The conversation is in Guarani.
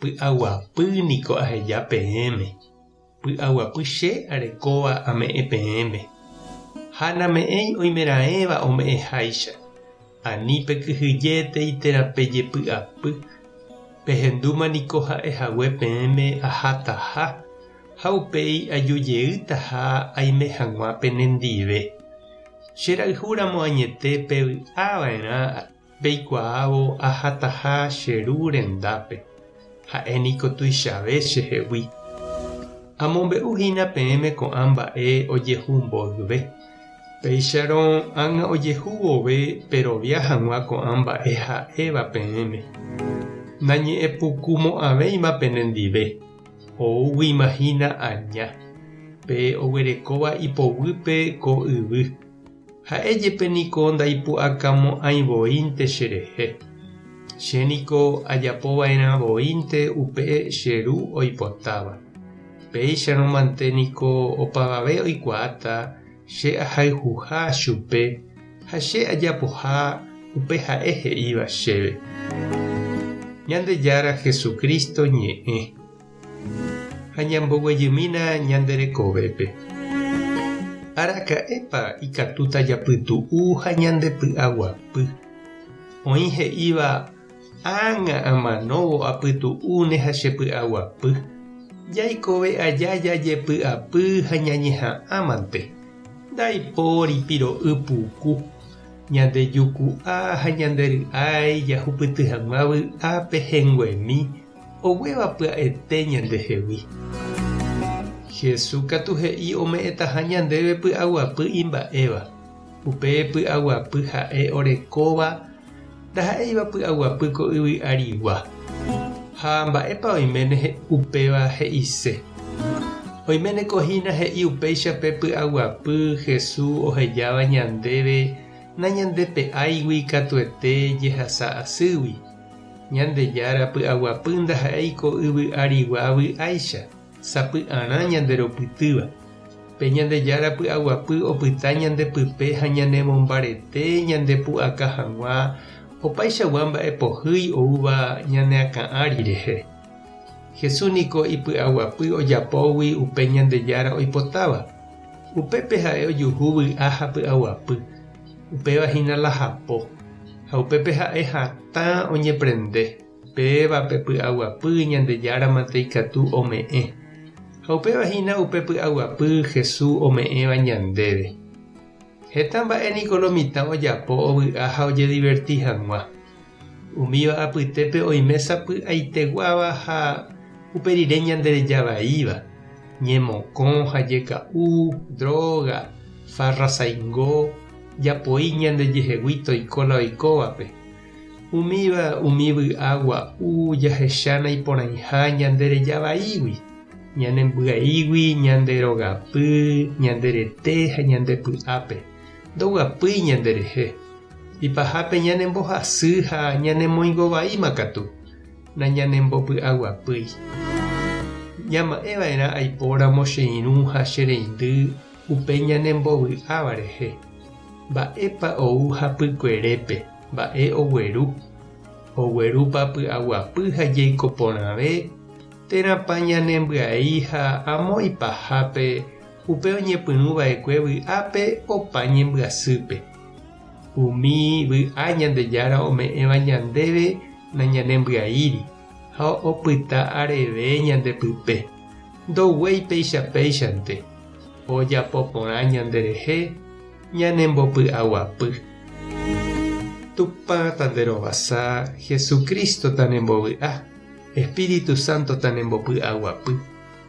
Py'aguapy niko aheja peẽme, py'aguapy che arekóva ame'ẽ peẽme. Ha name'ẽi oimeraẽva ome'ẽháicha, ani pekyhyjétei térã pejepy'apy, pehendúma niko ha'e hague peẽme ahátaha, ha upéi ajujeýtaha aime hag̃ua penendive. Che rayhúramo añete pevy'ava'erã. Peikuaávo ahataha che ru rendápe, ha'e niko tuichave che hegui. Amombe'u hína peẽme ko'ã mba'e ojehu mboyve, péicharõ ág̃a ojehu vove perovia hag̃ua ko'ã mba'e ha'éva peẽme. Nañe'ẽpukumo'ãvéima penendive, oúguima hína aña, pe oguerekóva ipoguýpe ko yvy. Ha'e jepe niko ndaipu'akamo'ãi voínte cherehe. Che niko ajapo va'erã voínte upe che Ru oipotáva. Péicharõ mante niko opavave oikuaáta che ahayhuha chupe ha che ajapoha upe Ha'e he'íva chéve. Ñandejára Jesucristo ñe'ẽ. ha ñamboguejymína ñande rekovépe. Araka'épa ikatúta japytu'u ha ñandepy'aguapy? Oĩ he'íva, Ág̃a amanóvo apytu'u ne ha chepy'aguapy. Jaikove aja jajepy'apy ha ñañeha'ã mante. Ndaipóri piro'y puku. Ñande juku'a ha ñande ry'ái jahupyty hag̃ua vy'a pehenguemi. Oguéva pya'ete ñandehegui. Jesús katu he'i ome'ẽtaha ñandéve py'aguapy imba'éva. Upe py'aguapy ha'e orekóva ndaha'éiva py'aguapy ko yvy arigua. Ha mba'épa oiméne upéva he'ise? Oiméneko hína he'i upéicha pe py'aguapy Jesús ohejáva ñandéve nañandepe'áigui katuete jehasa asýgui. Ñandejára py'aguapy ndaha'éi ko yvy arigua vy'áicha, sapy'arã ñanderopytýva. Pe Ñandejára py'aguapy opyta ñande pype ha ñanemombarete ñandepu'aka hag̃ua opaichagua mba'e pohýi oúva ñane akã ári rehe. Jesús niko ipy'aguapy ojapógui upe Ñandejára oipotáva. Upépe ha'e ojuhu vy'a ha py'aguapy. upéva hína la hapo, ha upépe ha'e hatã oñeprende, péva pe py'aguapy Ñandejára mante ikatu ome'ẽ, ha upéva hína upe py'aguapy Hesu ome'ẽva ñandéve. Heta mba'e niko lo mitã ojapo ovy'a ha ojediverti hag̃ua, Umíva apytépe oime sapy'aiteguáva ha upe rire ñandereja vaíva, ñemokõ ha jeka'u, dróga, farra saingo, japoi ñandejehegui toiko la oikóvape. Umíva umi vy'a gua'u jahecha naiporãiha ñandereja vaígui, ñanembyaígui ñande rogapy, ñande rete ha ñande py'ápe. Ndoguapýi ñanderehe. Ipahápe ñanembohasy ha ñanemoingo vaíma katu, nañanembopy'aguapýi. Ñama'ẽ va'erã aipóramo che irũ ha che reindy upe ñanembovy'áva rehe. Mba'épa ou hapykuerépe, mba'e ogueru? Oguerúpa py'aguapy ha jeiko porãve? Térãpa ñanembyai ha amo ipahápe upe oñepyrũ va'ekue vy'a pe opa ñembyasýpe. Umi vy'a Ñandejára ome'ẽva ñandéve nañanembyai'íri ha opyta areve ñande pype, ndoguéi péicha péichante ojapo porã ñanderehe ñanembopy'aguapy. Tupã tanderovasa, Jesucristo tanembovy'a, Espíritu Santo tanembopy'aguapy.